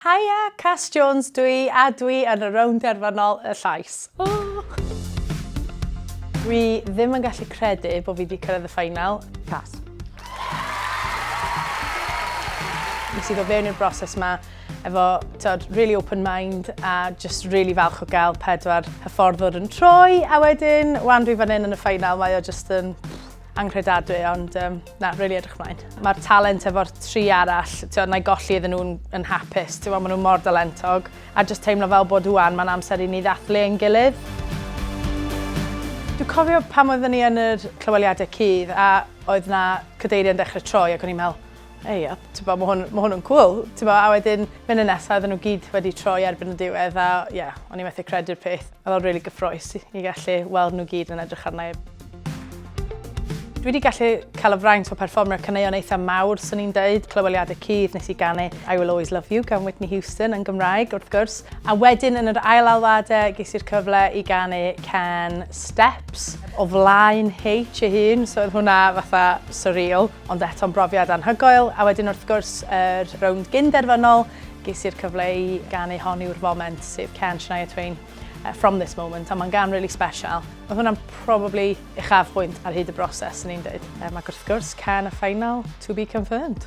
Haia, Cass Jones dw i a dw i yn y rownd derfynol y llais. Dwi ddim yn gallu credu bod fi wedi cyrraedd y ffainal. Cass. Nes i ddod fewn i'r broses yma efo tod, really open mind a just really falch o gael pedwar hyfforddwr yn troi a wedyn, wan dwi fan hyn yn y ffainal, mae o just yn anghredadwy, ond um, na, rili really edrych mlaen. Mae'r talent efo'r tri arall, ti'n na i golli iddyn nhw'n yn hapus, ti'n maen nhw mor dalentog, a jyst teimlo fel bod wwan, mae'n amser i ni ddathlu ein gilydd. Dwi'n cofio pam oeddwn ni yn yr clyweliadau cudd a oedd na cadeiriau'n dechrau troi ac o'n i'n meddwl, Ei, a tibod, mae hwn, ma hwn yn cwl. Tibod, a wedyn, mynd y nesaf, oedden nhw gyd wedi troi erbyn y diwedd, a ie, yeah, o'n i methu credu'r peth. Oedd o'n really gyffroes i, i gallu weld nhw gyd yn edrych arna i. Dwi wedi gallu cael y fraint o perfformio caneuon eitha mawr, swn i'n deud, clyweliadau cudd nes i ganu I Will Always Love You gan Whitney Houston yn Gymraeg, wrth gwrs. A wedyn yn yr ail alwadau ges i'r cyfle i ganu can Steps o flaen H ei hun, so oedd hwnna fatha surreal. Ond eto'n brofiad anhygoel, a wedyn wrth gwrs yr rownd gyn-derfynol, ges i'r cyfle i ganu Hon yw'r Foment, sef cân Shania Twain, From This Moment, a mae'n gan really special. Oedd hwnna'n probably uchafbwynt ar hyd y broses, yn i'n dweud. Um, ac wrth gwrs, can y final, to be confirmed.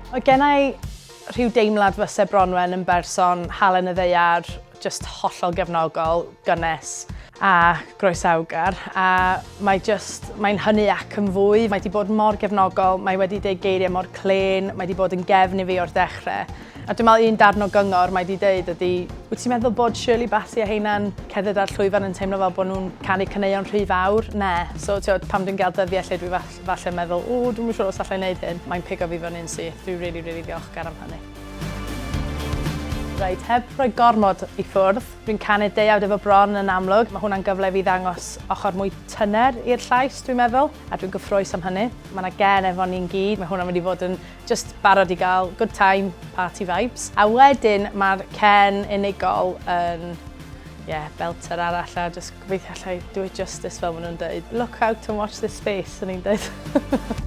Oedd gennau rhyw deimlad fyse Bronwen yn berson halen y ddeiar, Just hollol gefnogol, gynnes a groesawgar a mae just, mae'n hynny ac yn fwy. Mae wedi bod mor gefnogol, mae wedi deud geiriau mor clên, mae wedi bod yn gefn i fi o'r dechrau. A dwi'n meddwl un darn o gyngor mae wedi deud ydy, wyt ti'n meddwl bod Shirley Bassey a heina'n cerdded ar llwyfan yn teimlo fel bod nhw'n canu caneuon rhy fawr? Ne. So, tiod, pam dwi'n gael dyddiau lle dwi falle meddwl, o, dwi'n siŵr os allai wneud hyn, mae'n pigo fi fyny'n syth. Dwi'n really, really ddiolchgar am hynny. Reit, heb rhoi gormod i ffwrdd, dwi'n canu deuawd efo bron yn amlwg, mae hwnna'n gyfle i fi ddangos ochr mwy tyner i'r llais dwi'n meddwl, a dwi'n gyffrous am hynny. Mae 'na gen efo ni'n gyd, mae hwnna'n mynd i fod yn jyst barod i gael good time, party vibes. A wedyn mae'r cen unigol yn ie, belter arall a jyst gobeithio alla i do it justice fel maen nhw'n dweud. Look out and watch this space, o'n i'n dweud.